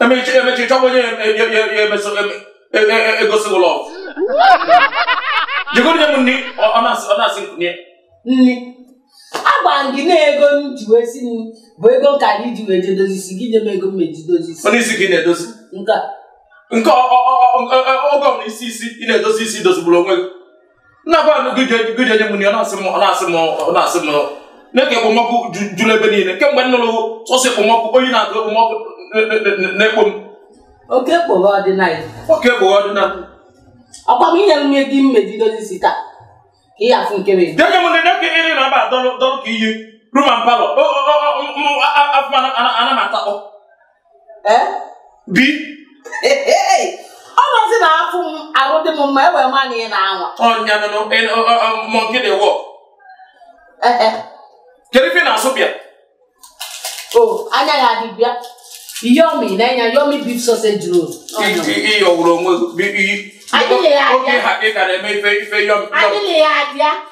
emechaa ị chọwa onye emeso egosi ụlọ je kunye m nri ọ na-asị m kunye nri agwa m gị na ego m ji wee si nri bụ ego ka m ji wee je dozi isi gị nye m ego m meji dozi isi onye sị gị na-edozi nke oge ọ na isi isi ị na-edozi isi dozigburu onwe gị m na-agwanụ gị je nye mụ nri ọ na-asị m ọ na-asị m ọ na-asị m neke ekpomọkụ juru ebe niile kemgbe m nụrụ sọsọ ekpomọkụ oyi na-atụ ekpomọkụ na-ekpo m oke kpoghe ọdịnala oke kpoghe ọdịnala ọkwa m inyere m ego m meji dozi isi taa ka ị afụ nke wee denye m nene ka ịrị na-aba dọrụ dọrụ ka iyi room and parlour afụma ana m atakpọ bi ọ nọzi na afụ m arụ dị m mma e wee ma na ị na-anwa ọnya nụnụ monkey dey work kedu ife ị na-asụ bịa o anya ya dị bịa yomi na enya yomi beef sausage roll ịyọwụrụ onwe gị oge ha ị gara eme ife ife yomi adịghị ya abịa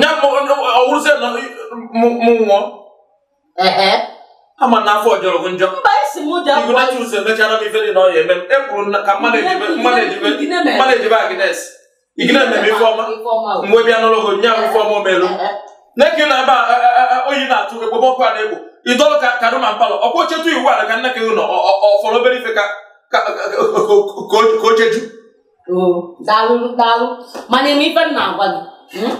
nya ọwụrụzie na mụ nwụọ ama na afọ jọrọ gị njọ igunachus emechara m ife dị na ọya eme m ekwuru ka mmadụ ejibe agnes ị gị na-eme m ife ọma mgbe bịa n'ụlọ ọgọ nya ife ọma o melu neke na ebe oyi na-atụ ekpomọkụ a na-ekpo ị dọlụ ka room and parlour ọkwa ochetu iwu ala ka nne ka gị nọ ọfọrọ obere ife ka ocheju oo daalụ daalụ mana ị ma ife m na-agwa gị mm?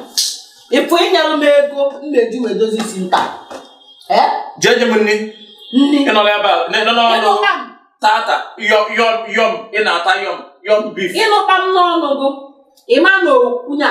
ị fụ ị nyelụ m ego m na-eji wee dozi isi m taa ee jee nye m nri nri ị nọrọ ebe a na- na- na- na- tata yọm yọm yọm ị na-ata yọm yọm beef ịnụta m n'ọnụ gị ịma na okwu nya